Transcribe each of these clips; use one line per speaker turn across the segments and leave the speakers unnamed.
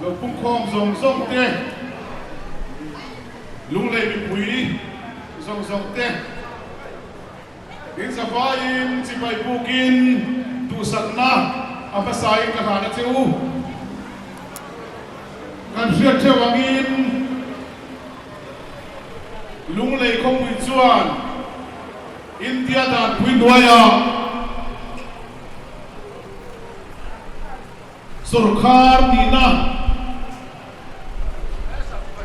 Lo pungkhawm zawng zawng te, lunglei mipui zawng zawng te inzavain chipai puk in duhsakna a hmasa in ka hlan a che u. Kan hriat theuh ang in lunglei khawpui chuan India dan pui hnuai ah, Sorkar tihna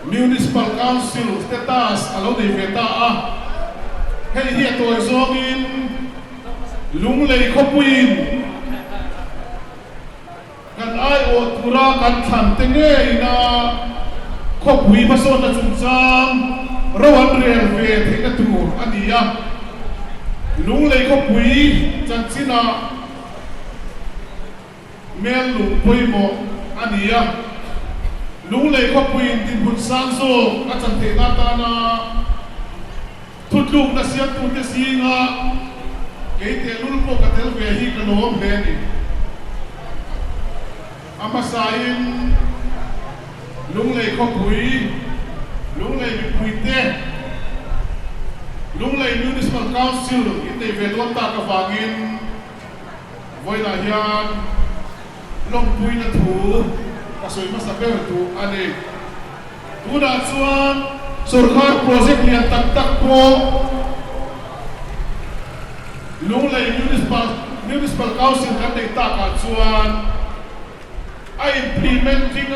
Municipal Council status a lo nei ve ta a, hei hi a tawi zawngin Lunglei khawpuiin kan aiawh tura kan thlan te ngeiin a khawpui hmasawnna chungchang ro an rel ve theihna tur a ni a. Lunglei khawpui chanchinah hmel lung pawimawh a ni a. Lunglei khawpuiin dinhmun sang zawk a chanthehna atana thutlukna siamtute zinga kei tehlul pawh ka tel ve hi ka nuam hle a ni. A hmasain lunglei khawpui, lunglei mipuite, lunglei Municipal Council inneih ve dawn tak avangin, Vawilah hian lawmpuina thu a sawi hmasa ber duh a ni. Tunah chuan sorkar project lian tak tak pawh Lunglei Municipal Council kan neih takah chuan a implementing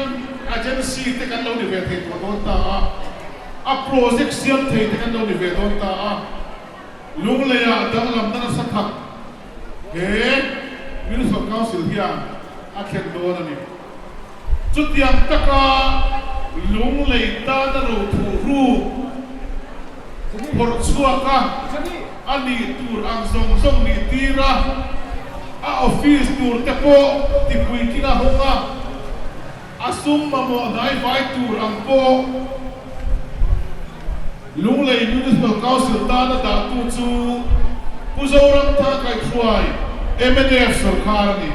agency te kan lo ni ve thei tawh dawn ta a, a project siam thei te kan lo ni ve dawn ta a. Lungleiah danglamna nasa tak he Minister Council hian a khen dawn a ni. Chutiang taka Lunglei tana rothuhru phawrh chhuak a a nih tur ang zawng zawng nih tir a, a office tur te pawh tipui kina hawng a. A sum mamawh hnaivai tur ang pawh Lunglei Municipal Council tan a dahtu chu Pu Zoramthar Kaihruai MNF sawrkar a ni.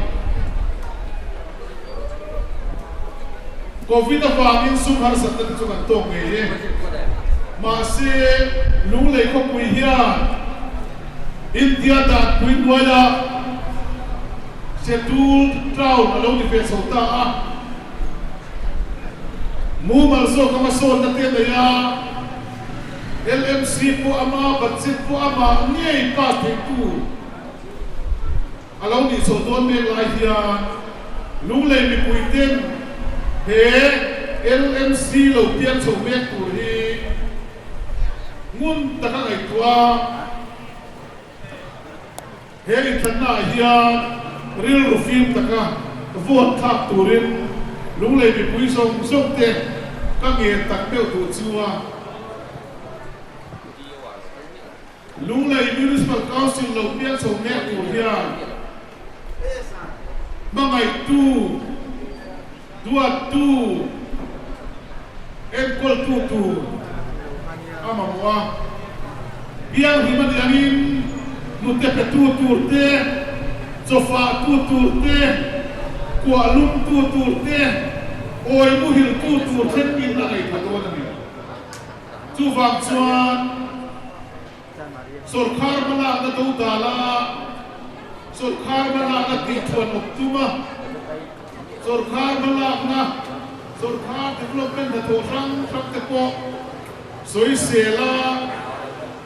Covid avangin sum harsatna te chu kan tawk ngei e. Mahse, Lunglei khawpui hian India danpui hnuaia Scheduled Cloud a lo ti ve chho ta a, mumal zawk anga sawnna te nei a, LMC pawh a mah a, budget pawh a mah ngei tlak theih tu a lo nih chho dawn mek lai hian Lunglei mipui ten he LMC lo piang chho mek tur hi ngun tak a ngaihtuah a. He inthlannaah hian rilru fim taka vuan thlak turin lunglei mipui zawng zawngte ka ngen tak deuh duh chu a Lunglei Municipal Council lo bial chho mek tur hian hmangaihtu, Duat tur, enkawl tu tur a mamawh a, bialhim a nih angin hnute pe tu tur te, chawfah tu tur te, kuah lum tu tur te, awi muhil tu tur khen in a ngaithla dawn a ni. Chuvang chuan. Sorkar hmalakna do ta la, sorkar hmalakna tihchhuan awk chunga, sorkar hmalakna, sorkar development hnathawh hrang hrang te pawh sawisel a,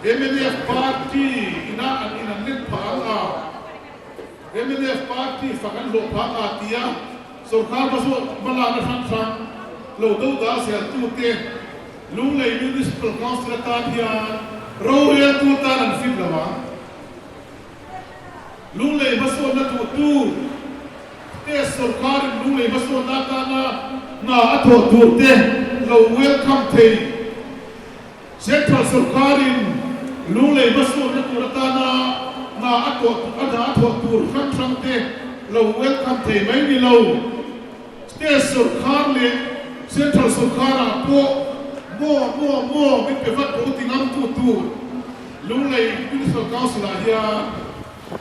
mnf party ina an in an let phah ang a, mnf party fak an hlawh phah ang a tia sorkar hmalakna hrang hrang lo do ta zel tute Lunglei Municipal Council atan hian rorel tur tan an fit lo a, Lunglei hmasawnna duhtu State Sorkarin Lunglei hmasawnna atana hna a thawh tur te lo welcome thei, Central Sorkarin Lunglei hmasawnna tur atana hna a thawh tur hrang hrang te lo welcome thei mai ni lo. State sawrkar leh Central sawrkarah pawh maw maw maw min pe vat bo ti ngamtu tu Lunglei Municipal Council ah hian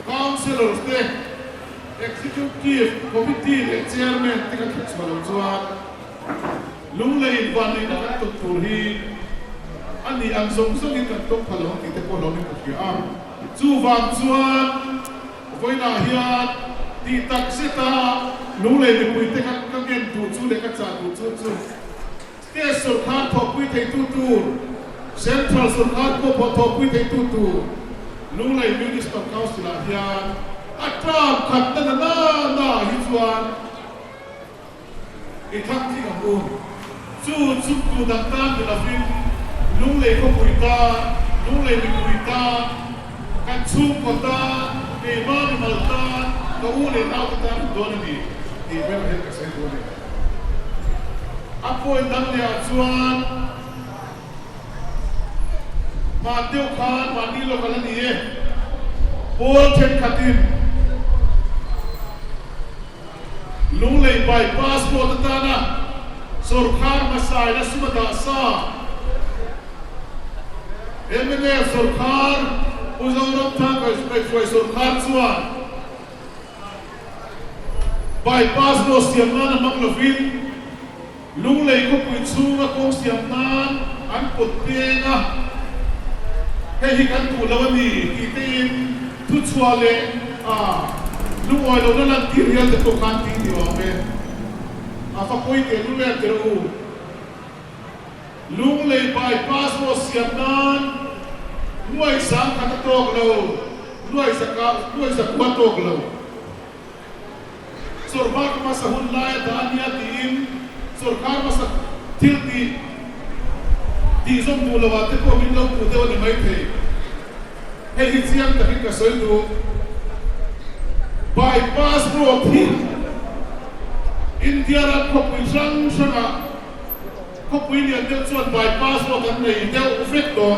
Councillors te, Executive Committee leh Chairman te kan hre chhuah lo chuan Lunglei vanlehna kan tawp tur hi a nih ang zawng zawngin kan tawp kha lo tih te pawh lo min hmu thliah a. Chuvang chuan. Vawilah hian tih tak zeta lu leh mipui te kha ka ngen duh chu leh ka chah duh chu chu State sawrkar thawhpui theitu tur, Central sawrkar pawhpawh thawhpui theitu tur Lu Lei Municipal Council-ah hian a tlam khatna nana naah hi chuan, I thang thik ang u. Chu chuk duh tak tan ni lovin lunglei ka pui ta, lunglei min pui ta, kan chhungkaw ta, keimah mi mal ta, ka u leh nau te tan hmuh dawn a ni tih ber hian ka chhiatbual a ni. A point dang leh ah chuan. Hman deuh khan mahni lawk ala ni e, Paul thenkhatin Lunglei by passport atana sorkar hmasa ila suma dah sa mnf sorkar Pu Zoramthang Kaihfuai sorkar chuan by passport siam nan a hmang lovin. Lunglei khawpui chhunga kawng siam nan an pawt peng a, hei hi kan duh lo a ni tih teiin thuchhuah leh lungawi lohna lan tir hial te pawh khan tih ni awm e. A fa pawi teh lu leh tirh u. Lunglei bypass pawh siam nan Luaisa an khat a tawk lo, Luaisa ka Luaisa kua tawk lo. Sorkar hmasa hun lai a dah a nia tiin sorkar hmasa thil tih tih zawm duh lo ah te pawh min lo hmuh deuh a ni maithei. Hei hi chiang takin ka sawi duh, Bypass road hi India ram khawpui hrang hrang ah khawpui lian deuh chuan bypass road an nei deuh vek tawh.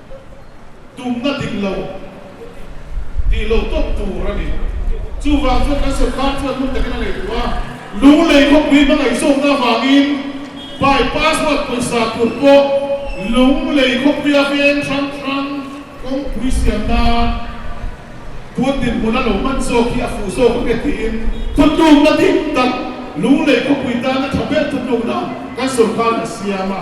tumna dik lo tih lo tawp tur a ni. Chuvang chuan kan sawrkar chuan hmun takin a ngeitur a, lunglei khawpui hmangaih zawkna avangin pai password pawisa tur pawh lunglei khawpuia veng hrang hrang kawngpui siam nan puan dinhmun a lo hman zawk hi a fuh zawk ang e tiin thu tumna dik tak lunglei khawpui tana tha ber thu tumna kan sawrkarn a siam a.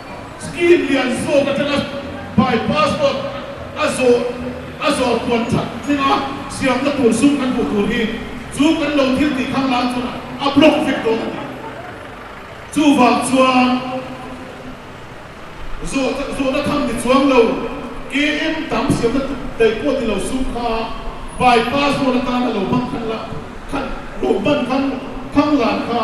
Scheme lian zawk atanga by pass dawt a zawh a zawh puan that thleng a siamna tur sum kan hmuh tur hi chu kan lo thil tih thang lak chuan a block vek dawn a ni. Chuvang chuan zawh zawhna thang ni chuang lo KM tam siamna tur daih pawh ni lo sum kha by pass dawt atan a lo hmang khan la khan lo hman khan thang lan kha.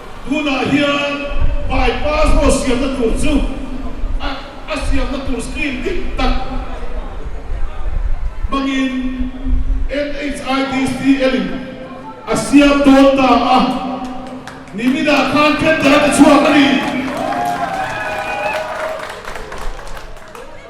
Tunah hian Bypass Road siamna tur chu a a siamna tur scheme dik tak hmangin NHIDCL in a siam dawn ta a, niminah khan tender a ti chhuak a ni.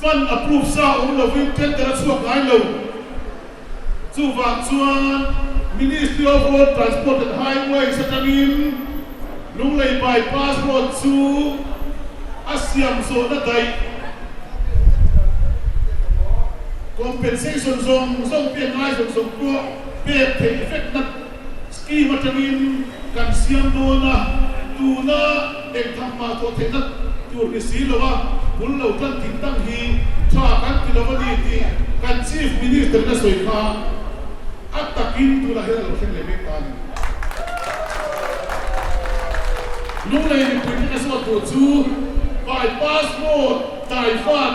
Fund approve sa awm lovin tender a chhuak ngai lo. Chuvang chuan Ministry of Road Transport and Highways atangin Lunglei Bypass Road chu a siam zawhna daih compensation zawng zawng pia ngai zawng zawng pawh pek theih vek na Scheme atangin kan siam dawn a, tuna engthang mah tawh theihna tur ni si lo a, bul lo tan dik dang hi tha kan ti lo a ni tih kan Chief Minister-in a sawi kha a takin tunah hian a lo thleng leh mek ta a ni. Lunglei mipui te ka zawt tur chu Bypass Road Taifat,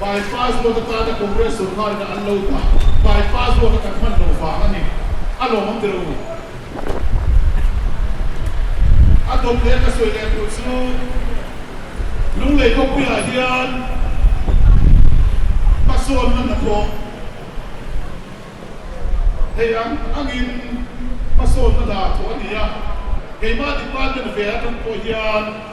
Bypass road atana Congress sorkar ina an lo dah bypass road a kan hman lo vang a ni. A lawm ang tilo. A dawt leh ka sawi leh tur chu Lunglei kawng piahah hian Pasawn hman a thawng. Hei ang angin Pasawn hmana thawh a ni a. Keimah department vêla ṭan pawh hian.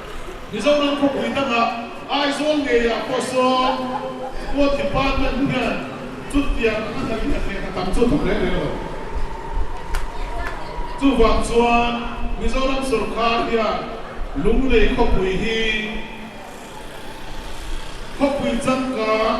Mizoram khawpui dangah Aizawl ngeiah pawh sawn Court Department hian chutiang anga hnalhliah hneh a tam chu a thawk leh leh lo. Chuvang chuan Mizoram sawrkar hian Lunglei khawpui hi khawpui changkang,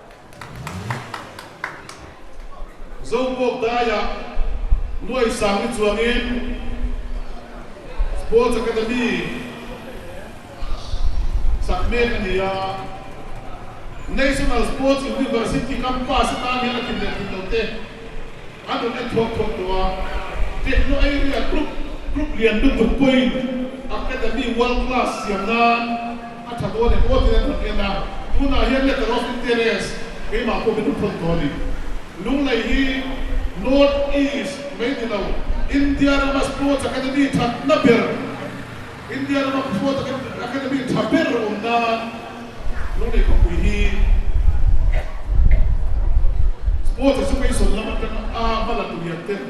Zongpawk daia Luai Sangni chuangin Sports Academy sak mek a ni a, National Sports University campus atan hian a thim leh thim lo te. An rawn en chhuak chhuak tawh a, Tehnu Area Group group lian lutuk pawhin Academy World Class siam nan a tha dawn em aw tiin an rawn en a, tunah hian Letter of Interest keimah pawh min rawn thawn tawh a ni. Lunglei hi North East mai ni lo, India rama Sports Academy thatna ber. India lama khua takin academy tha ber awm nan lunglei khawpui hi sports chu beisawn lam atanga a hmalak lian ten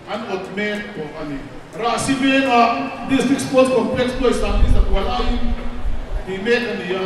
an awt mek pawh a ni. Rahsi vengah district sports complex Puaisang hi zakual aiin tih mek a ni a.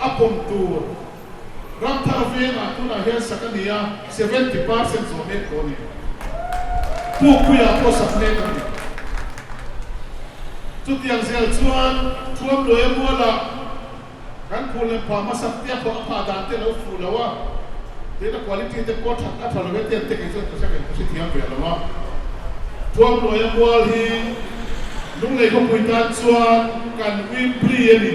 A pawm tur ram thar a veng ah tunah hian sak a ni a, seventy percent zawh mek pawh a ni. Puk pui ah pawh sak mek a ni. Chutiang zel chuan thuam luai a mual a, kan phur lem pha hmasa pia pawh a phah dan te lo fuh lo a, tuna quality te pawh that a tha lo e ten te kei chuan ka hre ka hre thiam ve lo a. Thuam luai a mual hi lunglei khawpui tan chuan kan uimpui a ni.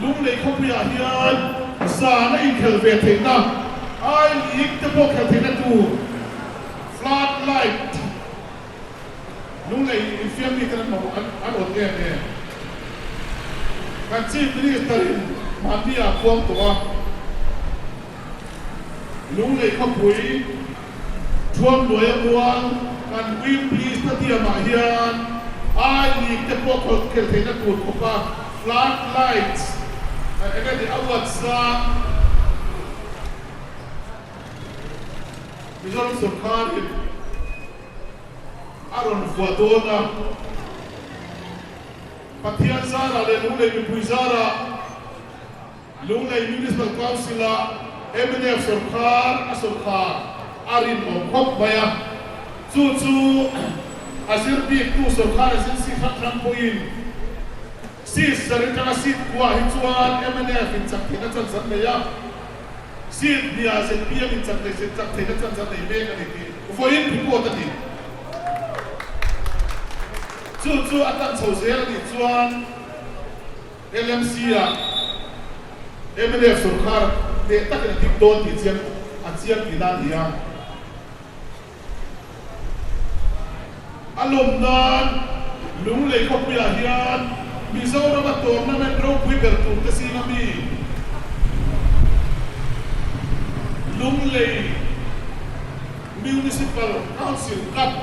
Lunglei khawpuiah hian zana inkhelh ve theihna, ai ling te pawh khelh theihna tur flood light lunglei infiam mite an hmang an awt em em? Kan Chief Minister-in hmanbia puang tawh a. Lunglei khawpui thuamhnuaia muang kan Weekly stadium ah hian I League te pawh khawl khel theihna tur khawpa flood lights a eng emaw awards zang Mizoram sawrkar in a rawn vuah dawn a. Pathian zarah leh lunglei mipui zarah. Lunglei Municipal Council-a mnf sawrkar a sawrkar a rinawm khawp mai a, chu chu a zir biktu sawrkar agency hralhran pawhin Seat zar atanga seat khuaah hi chuan mnf inchak theih na chanchar nei a, seat hniah zp an inchak theih se chak theihna chanchar nei mek a ni tih vawiin report a ni. Chu chu a tan chho zel a nih chuan. LMC-a mdf sawrkar hmeh takin a dik dawn tih chiang a chiang tih na a ni a. A lawm nan Lunglei khawpuiah hian Mizorama Tournament ropui ber tur te sînga mi Lunglei Municipal Council Cup,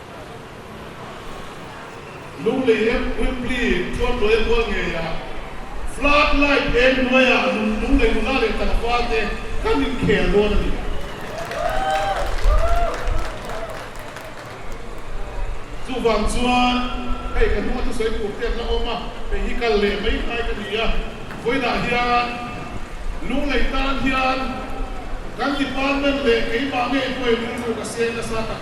Lunglei em Rilpi Tuanduai kual ngei a Flood light eng hnuai ah nun lunglei nula leh tangfa te kan in khel dawn a ni. Chuvang chuan hei ka hnunga thusawi tur te an la awm a, hei hi kal leh mai khai ka ni a, vawilah hian lunglei tan hian kan department leh keimah nge hnuai lung chu ka seng nasa tak.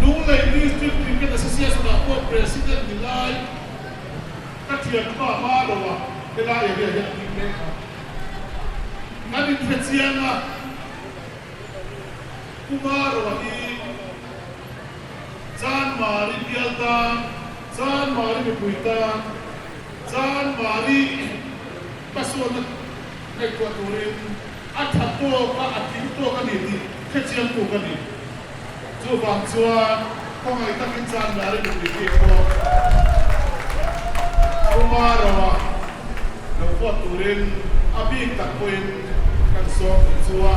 Lunglei District Cricket Association ah pawh President ni lai ka thianpa Maro a hela area hi a tling mek a, kan inhre chiang a, Pu Maro a hi Jan Mari bial tan, Jan Mari mipui tan, Jan Mari. Ka sawn a ngaihtuah turin a that bawk a, a tling bawk a ni tih khechiang tu ka ni. Chuvang chuan khawngaih takin chang la rin umi khi chuang puma roa lo buat turin a bik tak pawhin kan sawm tih chu a,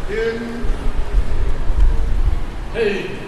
tin hei.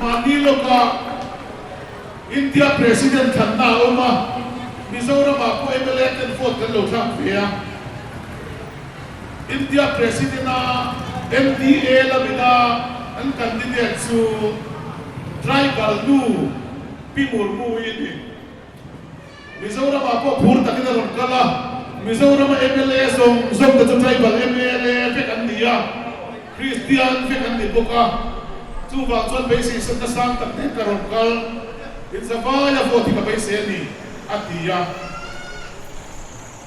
Mahni lawngah India President thlanna a awm a, Mizoramah pawh mla ten vote kan lo thlak ve a. India President a NDA lam ina an candidate chu tribal nu Pi Murmu i ni. Mizoramah pawh phur takin a rawn kal a, Mizorama mla zawng zawng te chu tribal mla vek an ni a, Kristian vek an ni bawk a, chuvang chuan beiseisatna sang tak ding ka rawn kal, inzavaia vote hi ka beisei a ni, a ti a.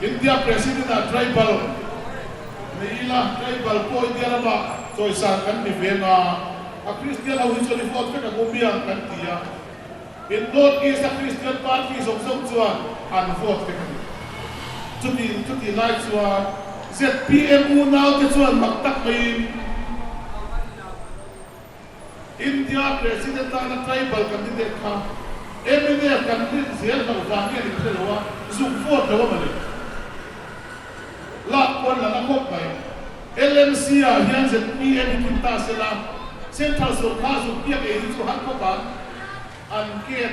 India President ah tribal nei ila, tribal pawh India lama chawisan kan ni ve nga, a Christian ho hi chuan i vote vek ang u miang kan ti a, in North East a Christian party zawk zawk chuan an vote vek a ni. Chutin chuti lai chuan zpm unaute chuan mak tak maiin, India President lana Tribal Candidate kha every day a kan rin zir loh vang nge ni hrelo a, zuk vote lo ama le lak pawn lala khawp mai ang. LMC ah hian zmi e bikin ta sela Central sorkar zuk piak ei hi chu han khawp ang an ket.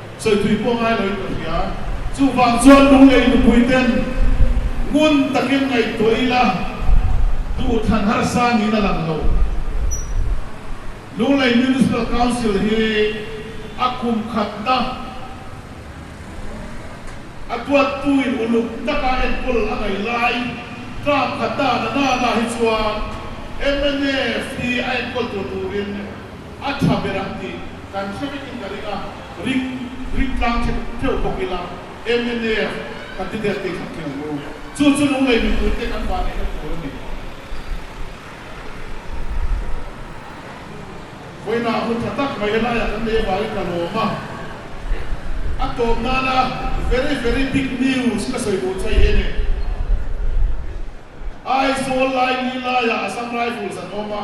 sawipuii pawh ngai lo in ka hria. Chuvang chuan lunglei nupui ten ngun takin ngaihtuah ila duhthlan harsa niin a lang lo. Lunglei Municipal Council hi a kum khatna a tuattuin uluk taka enkawl a ngaih lai. Tlak khatna a nana lah hi chuan MNF hi a enkawl tur turin. A tha ber ang tih kan hre vekin ka ring a, ring ring tlang thin teuh bawk ila MNAf ka ti der tih kha kiang u. Chu chu lung lei mipui te kan vah neihna tur a ni. Vawiinah a hmu tha tak mai helaiah kan lei avangin ka lawm a, a tawp nana very very big news ka sawi duh chai em e. Aizawl lai ni laiah Assam Rifles an awm a.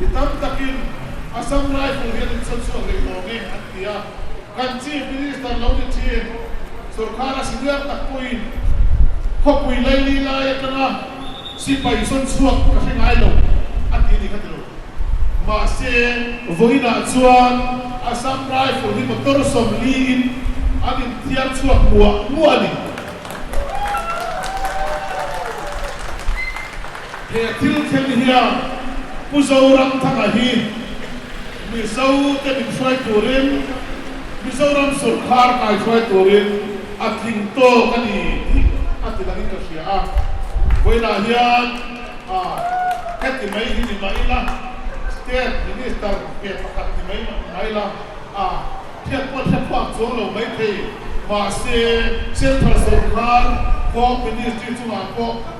Mi tam takin a sam rifle hi an insawn chhuak leh lawm e an ti a. Kan Chief Minister lo ni thin sorkar a siluiak tak pawhin khawpui laili lai atanga sipai sawn chhuak ka hre ngai lo a ti ni kha ti lo. Mahse vawiinah chuan a sam rifle hi motor sawm liin an inthiar chhuak muah muah a ni. He thil thlen hian Pu Zoram Thanga hi Mizo te min hruai turin Mizoram sawrkar ngai hruai turin a tling tawk a ni tih a ti dangin ka hria a. Vawilah hian heti mai hi ni mah ila State Minister ke pakhat ni mai mah ni mah ila hriat pawh a hriat pawh a chuang lo mai thei mahse Central sawrkar Home Ministry chungah pawh